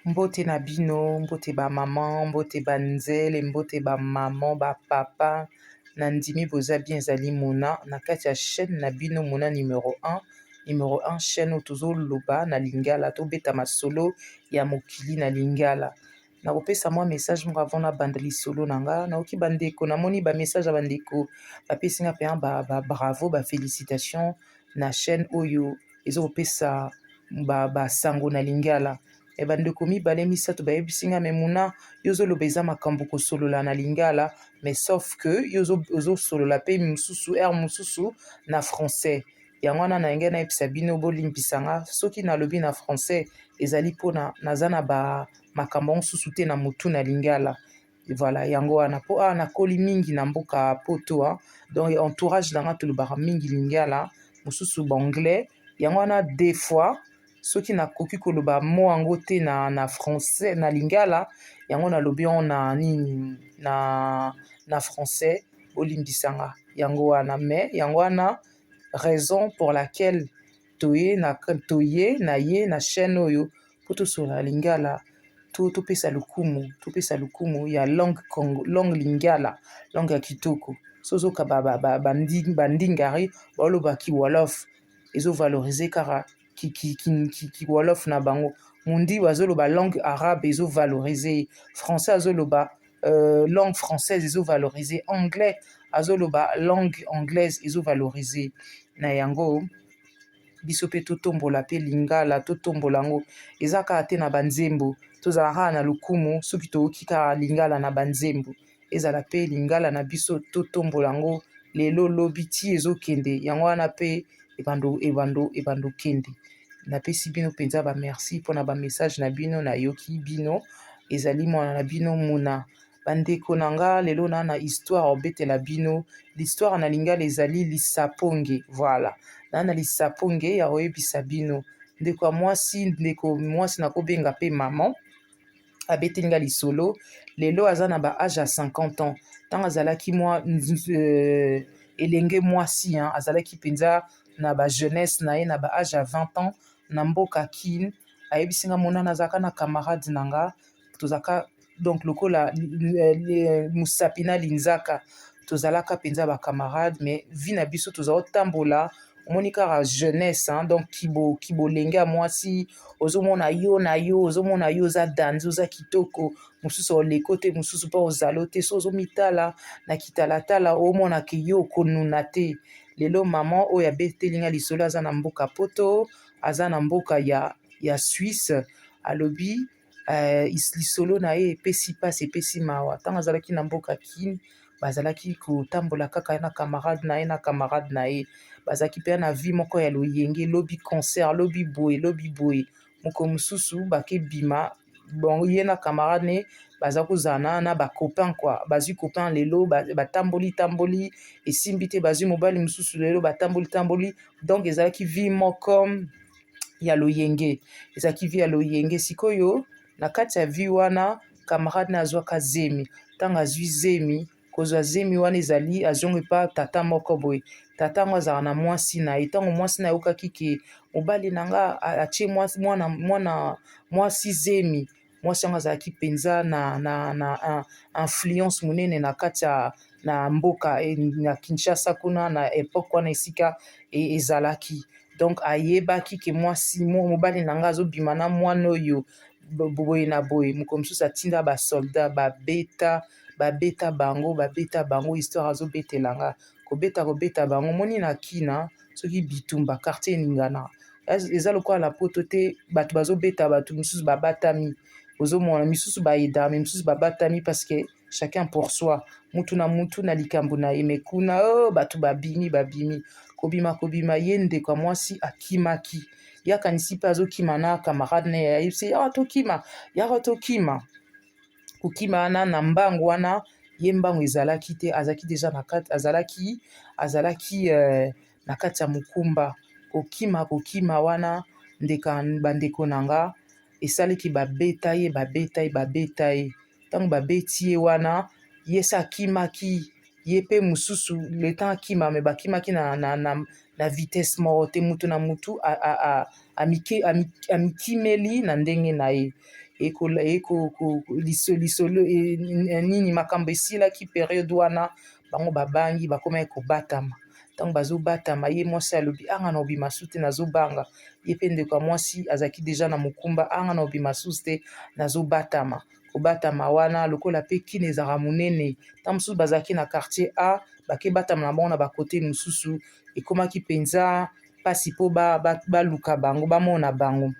Mbote na bino, mbote ba maman, mbote ba nzele, mbote ba maman, ba papa. Na ndimi boza bien ezali Mona na kati ya chaîne na bino Mona numero 1. Numero 1 chaîne oyo tozo loba na lingala, to beta masolo ya mokili na lingala. Na kopesa mwa message moko avant na banda lisolo na nga. Na oki ba ndeko, na moni ba message ya ba ndeko ba pesi nga penza ba, ba bravo, ba felicitations na chaîne oyo ezokopesa ba ba sango na lingala e eh, bandeko mibale misato bayebisi nga memuna yo ozoloba eza makambo kosolola na lingala mais sauf que yo ozosolola mpe mosusu aire mosusu na français yango wana na yangai nayebisa bino bolimbisa nga soki nalobi na français ezali mpona naza na ba makambo mosusu te na motu na lingala Voilà yango wana po awa nakoli mingi na mboka poto donc entourage na nga tolobaka mingi lingala mosusu ba anglais yango wana des fois soki nakoki koloba mot yango te na na français na lingala yango nalobi yango na nini na na français bolimbisa nga yango wana mais yango wana raison pour laquelle toye na toye na ye na chaîne oyo mpo tosola lingala to topesa lokumu topesa lokumu ya langue congo langue lingala langue ya kitoko so ozoka bandingari baoloba kiwolof ezovalorize kaka kiwolof na bango mondi azoloba langue arabe ezovalorize français azoloba euh, langue française ezo valoriser anglais azoloba langue anglaise ezo valoriser na yango biso mpe totombola mpe lingala totombola yango eza kaka te na banzembo tozala kaka na lokumu soki toyoki kaka lingala na banzembo ezala mpe lingala na biso totombola yango lelo lobi ti ezokende yango wana mpe ebando ebando ebando kende napesi bino mpenza bamerci mpo na bamessage na bino nayoki bino ezali mwana na bino muna bandeko na nga lelo na na histoire obetela bino l'histoire na lingala ezali lisaponge voilà na na lisaponge ya koyebisa bino ndeko ya mwasi ndeko mwasi nakobenga mpe maman abeteli nga lisolo lelo aza na ba age ya 50 ans ntango azalaki mwa euh, elenge mwasi azalaki mpenza na ba jeunesse na ye na ba age ya 20 ans na mboka kin ayebisi nga monana azalaka na camarade na nga tozalaka donc lokola mosapi na linzaka tozalaka mpenza bacamarade mais vie na biso toza otambola omoni kaka jeunesse hein, donc kibolenge ya mwasi ozomona yo na yo ozomona yo oza danze oza kitoko mosusu oleko te mosusu mpe ozalo te so ozomitala na kitalatala omona ke yo okonuna te lelo mama oyo abeteli nga lisolo aza na mboka poto aza na mboka ya, ya swisse alobi eh, lisolo na ye epesi mpasi epesi mawa ntango azalaki na mboka kini bazalaki kotambola kaka na camarade na ye na camarade na ye bazalaki mpe na vie moko ya loyenge lobi concert lobi boye lobi boye mokolo mosusu bakebima bon ye na camarade ne baza kozala na na bacopain kua bazwi copain lelo batamboli tamboli esimbi te bazwi mobali mosusu lelo batamboli tamboli donc ezalaki vie moko ya loyenge ezalaki vie ya loyenge sikoyo na kati ya vie wana camarade na azwaka zemi ntango azwi zemi kozwa zemi wana ezali azongi epa tata moko boye tata yango azalaka na mwasi na ye ntango mwasi na yokaki ke mobali na nga atie mwana mwasi zemi mwasi yango azalaki mpenza na influence monene na kati ya na mboka na Kinshasa kuna na epoque wana esika ezalaki donc ayebaki ke mwasi mobali na ngai azobima na mwana oyo boye na boye mokolo mosusu atinda ba solda babeta babeta bango babeta bango histoire azobetela nga kobeta kobeta bango omoni na kina. soki bitumba quartier eningana eza lokola na poto te bato bazobeta bato mosusu babatami ozomona misusu baedame misusu babatami parce que chacun pour soi mutu na mutu na likambo na ye me kuna o oh, bato babimi babimi kobima kobima ye ndeko ya mwasi akimaki ye akanisi mpe azokima na camarade na ye ayebisi yaka tokima yaka tokima kokima wana na mbangu wana ye mbangu ezalaki te azalaki deja na kati azalaki azalaki euh, na kati ya mokumba kokima kokima wana ndeka bandeko na nga esalaki babeta ye babeta ye babeta ye ntango babeti ye wana ye se akimaki ye mpe mosusu le temps akima me bakimaki na, na, na, na vitesse moko te moto na motu amikimeli na ndenge na ye lisolo e, e, nini makambo esilaki periode wana bango babangi bakomaki kobatama ntango bazobatama ye mwasi alobi anga na obima su te nazobanga ye mpe ndeko ya mwasi azalaki deja na mokumba anga na obima susu te nazobatama na kobatama wana lokola mpe kini ezalaka monene ntango mosusu bazalaki na quartier a bake batama na bango na bakote mosusu ekomaki mpenza mpasi mpo baluka ba, ba bango bamona bango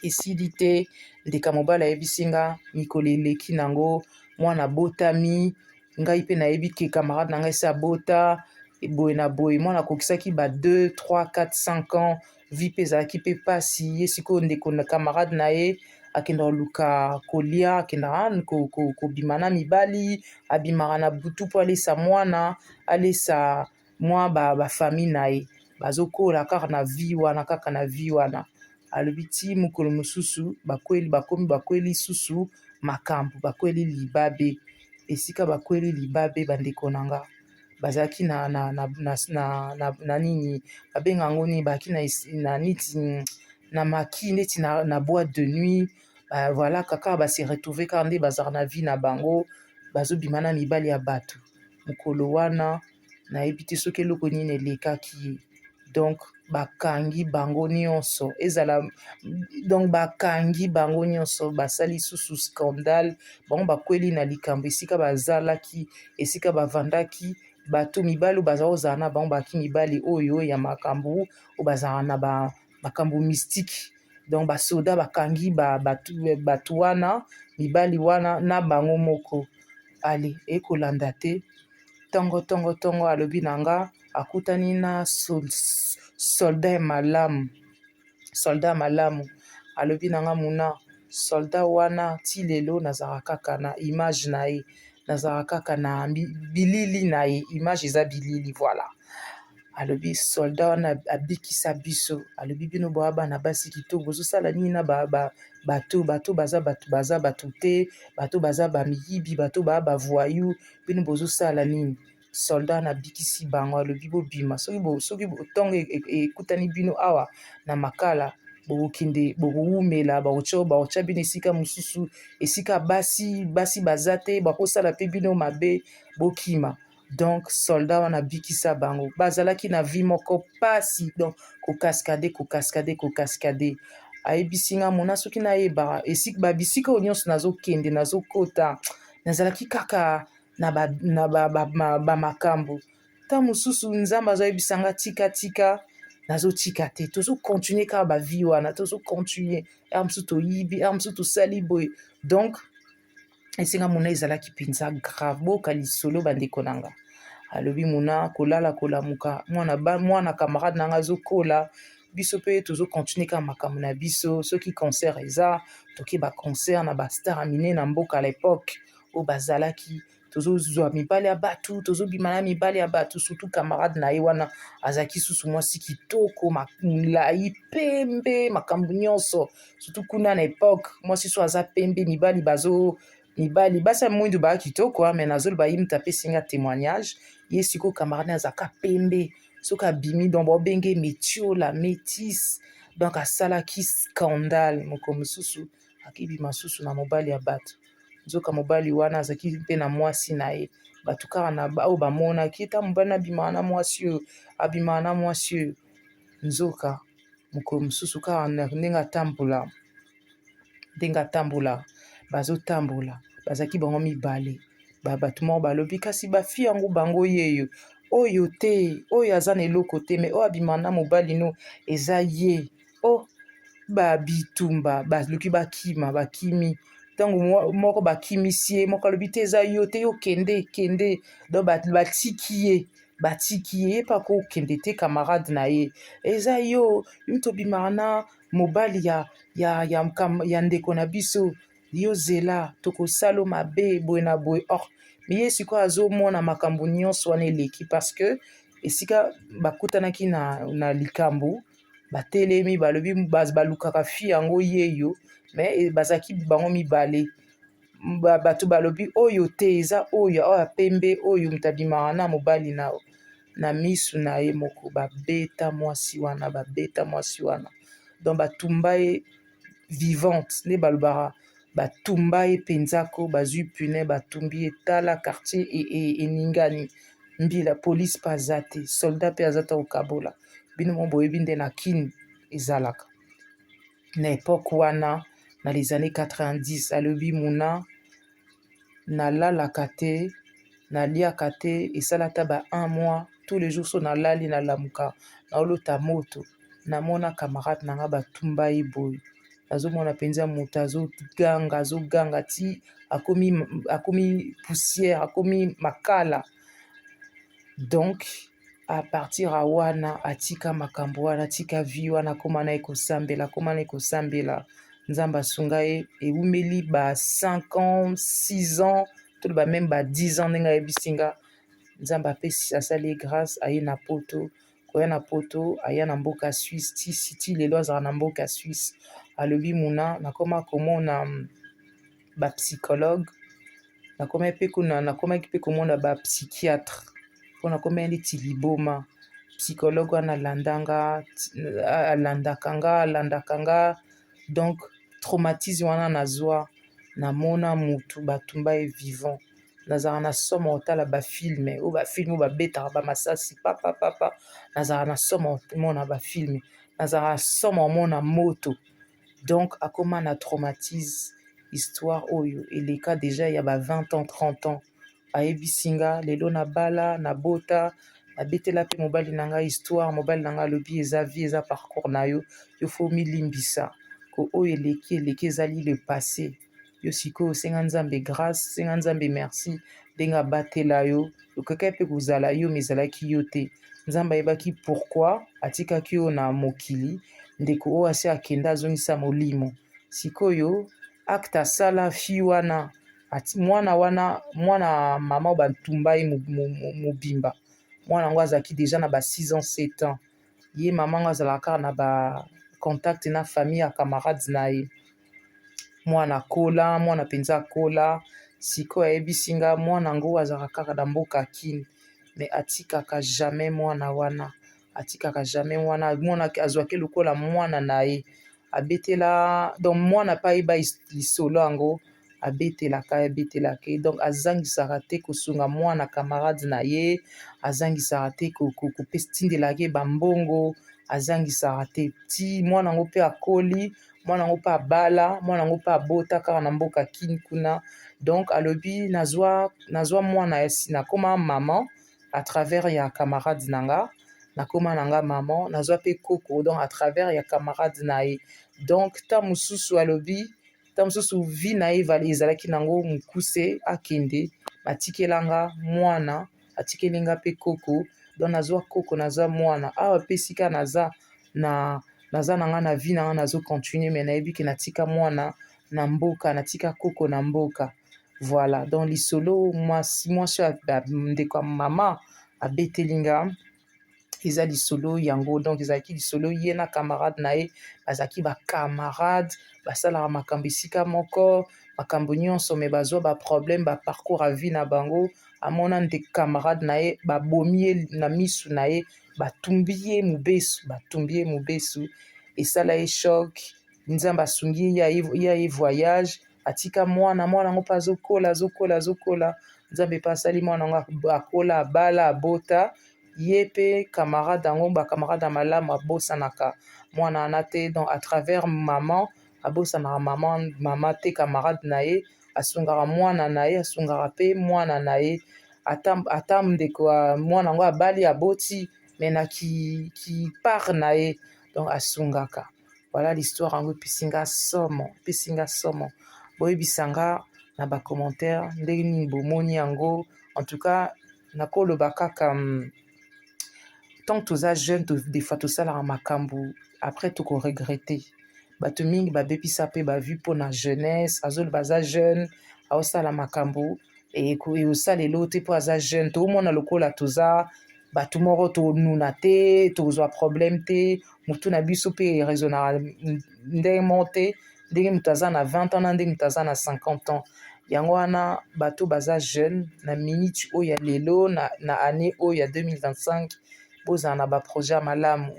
esili te ndeka mobali ayebisi nga mikolo eleki na yango mwana abotami ngai mpe nayebi ke camarade na ngai se abota boye na boye mwana akokisaki ba 2 3 4 5 ans vie mpe ezalaki mpe mpasi ye sikoyo ndeko na camarade na ye akenda koluka kolia akendaka kobima na mibali abimaka na butu mpo alesa mwana alesa mwa bafamille na ye bazokola kaka na vie wana kaka na vie wana alobi ti mokolo mosusu bakweli bakomi bakweli susu makambo bakweli libabe esika bakweli libabe bandeko na nga bazalaki na nini babenga yango nini bazalaki na neti na maki neti na boite de nuit voilà kaka ba se retrouve kaka nde bazalaka na vie na bango bazobima na mibale ya bato mokolo wana nayebi te soki eloko nini elekaki ye. donc bakangi bango nyonso ezala donc bakangi bango nyonso basali susu scandale bango bakweli na likambo esika bazalaki esika bavandaki bato mibali baza kozala na bango baki mibali oyo ya makambo oyo bazalaka na ba makambo mystike donc basoda bakangi bato wana mibali wana na bango moko ale ekolanda te Tongo tongo tongo alobi na nga akutani na soldat ya malamu soldat ya malamu alobi na nga muna soldat wana ti lelo nazalaka kaka na image na ye nazalaka kaka na bilili na ye image eza bilili voilà alobi soldat wana abikisa biso alobi bino boya bana basi kitoko bozosala nini na bato bato baza bato baza bato te bato baza bamiyibi bato baya bavoyou bino bozosala nini soldat wana abikisi bango alobi bobima soki soki ntongo e, e, e, ekutani bino awa na makala bokokende bokowumela bakotya bakotya bino esika mosusu esika basi basi baza te bakosala mpe bino mabe bokima donc soldat wana abikisa bango bazalaki na vie moko pasi donc kokaskade kokaskade kokaskade ayebisi nga mona soki nayebaka esika babisika oyo nyonso nazokende nazokota nazalaki kaka na bamakambo ntango mosusu nzambe azoyebisa nga tika tika nazotika te tozocontinue kaka bavie wana tozocontinue r mosusu toyibi r mosusu tosali boye donc esenga mona ezalaki mpenza grave boka lisolo bandeko na nga alobi mona kolala kolamuka mwana, mwana camarade na nga azokola biso mpe tozo continuer kaka makambo na biso soki concert eza toke ba concert na ba star mine na mboka à l'époque oyo bazalaki tozozwa mibale ya bato tozobima na mibale ya bato surtout camarade na ye wana azalaki susu mwasi kitoko molai pembe makambo nyonso surtout kuna na epoque mwasi so aza pembe mibali bazo mibali basi ya mwindu baa kitoko me nazoloba ye moto apesi nga témoignage ye sikoyo camarade azaka pembe soki abimi donc baobenge metiola métis donc asalaki scandale moko mosusu akibima susu na mobali ya bato nzoka mobali wana azalaki mpe na mwasi na ye bato kaka na oyo bamonaki ta mobali abimaka na mwasi oyo abimaka na mwasi oyo nzoka mokolo mosusu kaka ndenge atambola ndenge atambola bazotambola bazalaki bango mibale bato moko balobi kasi bafi yango bango yeyo oyo te oyo aza na eloko te me oyo abima na mobali no eza ye o oh, babitumba baluki bakima bakimi ntango moko bakimisi ye moko alobi te eza yo te yo kende kende don batiki ye batiki ye ye mpe akokende te camarade na ye eza yo mtobimaka na mobali ya, ya, ya, ya ndeko na biso yo zela tokosalo mabe boye na boye or me ye sikoyo azomona makambo nyonso wana eleki parce que esika bakutanaki na, na likambo batelemi balobi balukaka fi yango yeyo me e, bazalaki bango mibale bato balobi oyo te eza oyo oyo pembe oyo moto abimaka na mobali na na misu na ye moko ba beta mwasi wana ba beta mwasi wana donc ba tumba ye vivante nde ba lobaka ba tumba ye penza ko ba zui pune ba tumbi ye tala quartier eningani mbila police pe aza te soldat pe aza te ko kabola bino moko bo yebi nde na kin ezalaka na epoque wana na les annees 90 alobi muna nalalaka te naliaka te esala ata ba un mois tous les jours so nalali nalamuka naolota moto namona camarade na nga batumba ye boye nazomona mpenza moto azoganga azoganga ti akomi poussière akomi makala donk. a partir ya wana atika makambo wana atika vie wana akoma na ye kosambela akoma na ye kosambela nzambe asunga ye ewumeli ba 5 ans 6 ans toloba meme ba 10 ans ndenge ayebisi nga nzambe apesi asali ye grâce aye na poto koya na poto aya na mboka suisse ti siti lelo azala na mboka suisse alobi muna nakoma komona ba psychologue nakoma mpe kuna nakomaki mpe komona ba psychiatre mpo nakomaki neti liboma psychologue wana alandanga alandaka nga alandaka nga donc traumatisme wana nazwa namona motu batumba ye vivant nazalaka na somo kotala bafilme oyo bafilme oyo babetaka bamasasi papapapa nazalaka na somo komona bafilme nazalaka na somo komona moto donc akoma na traumatise histoire oyo eleka deja ya ba 20 ans 30 ans ayebisi nga lelo na bala na bota abetela pe mobali na nga histoire mobali na nga alobi eza vie eza parcours na yo yo fo milimbisa ko oyo eleki eleki ezali le passé yo sikoyo senga nzambe grace senga nzambe merci ndenge abatela yo okokaki mpe kozala yo ma ezalaki yo te nzambe ayebaki pourkui atikaki yo na mokili ndeko oyo asi akenda azongisa molimo sikoyo acte asala fi wana mwana wana mwana mama oyo bantumba ye mobimba mwana yango azalaki deja na ba 6 ans 7 ans ye mama yango azalaka kaka na ba contact na famille ya camarade na ye mwana akola mwana mpenza akola sikoyo ayebisi nga mwana yango azalaka kaka na mboka kine me atikaka jamais mwana wana atikaka jamais wana amonaki azwaki lokola mwana na ye abetela donc mwana mpe ayeba lisolo yango abetelaka ye abetelaka ye donc azangisaka te kosunga mwana camarade na ye azangisaka te kopesa tindelaka ye bambongo azangisaka te ti mwana yango mpe akoli mwana yango mpe abala mwana yango mpe abota kaka na mboka kini kuna donc alobi nazwa mwana ya sina akoma mama à travers ya camarade na nga nakoma na nga maman nazwa mpe koko donc à travers ya camarade na ye donc ta mosusu alobi ta mosusu vi na ye ezalaki nango mokuse akende batikela nga mwana atikeli nga mpe koko donc nazwa koko nazwa mwana awa mpe esika naza na naza na nga na vi na nga nazo continue me nayebi ke natika mwana na mboka natika koko na mboka voilà donc lisolo mwasi mwasi ya ndeko ya mama abeteli nga eza lisolo yango donc ezalaki lisolo ye na camarade na ye bazalaki bacamarade basalaka makambo esika moko makambo nyonso me bazwa baproblème baparcours ya vie na bango amona nde camarade na ye babomi ye na misu na ye batumbi ye mobesu batumbi ye mobesu esala ye choc nzambe asungi ye ya ye voyage atika mwana mwana yango mpe azokola azokola azokola nzambe mpe asali mwana yango akola abala abota ye mpe camarade yango bacamarade ya malamu abosanaka mwana wana te donc à travers maman abosanaka mama mama te camarade na ye asungaka mwana na ye asungaka mpe mwana na ye ata ndeko ya mwana yango abali aboti me na kipart na ye donc asungaka Voilà l'histoire yango epesi nga somo, epesi nga somo. Boyebisa nga na ba commentaire ndenge nini bomoni yango. En tout cas nakoloba kaka hmm, tant toza jeune to, des fois tosalaka makambo après toko regretter. Bato mingi babebisa mpe ba vie mpo na jeunesse, azoloba aza jeune aosala makambo eosalelo te mpo aza jeune toomona lokola toza bato moko tonuna te tozwa problème te motu na biso mpe eresonaka ndenge moko te ndenge moto aza na 20 ans na ndenge moto aza na 50 ans yango wana bato baza jeune na minute oyo ya lelo na année oyo ya 2025 bozala na baprojet ya malamu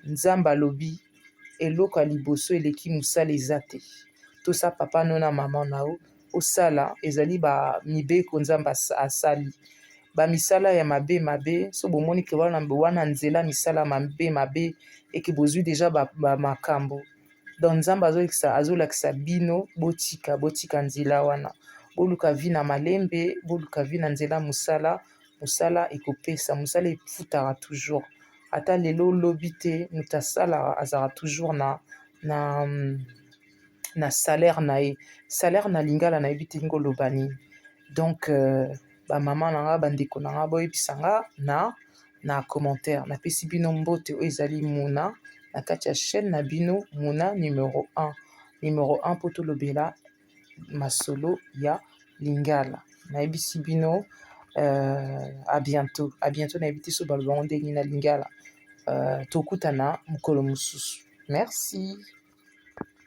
nzambe alobi eloko ya liboso eleki mosala eza te tosa papa no na mama na yo osala ezali ba mibeko Nzambe asali ba misala ya mabe mabe so bomoni ke wana wana nzela misala mabe mabe eke bozwi deja ba, ba makambo donc Nzambe azolakisa azolakisa bino botika botika nzela wana boluka vi na malembe boluka vi na nzela mosala mosala ekopesa mosala efutaka toujours ata lelo lobi te moto asalaka azalaka toujours na na na salaire na ye salaire na lingala nayebi te ndenge oloba nini donc euh, bamama na nga bandeko na nga boyebisa nga na na commentaire napesi bino mbote oyo ezali muna na kati ya chaîne na bino muna numero 1 numero 1 mpo tolobela masolo ya lingala nayebisi bino euh, à bientôt à bientôt nayebi te so baloba yango ndenge na lingala euh, tokutana mokolo mosusu merci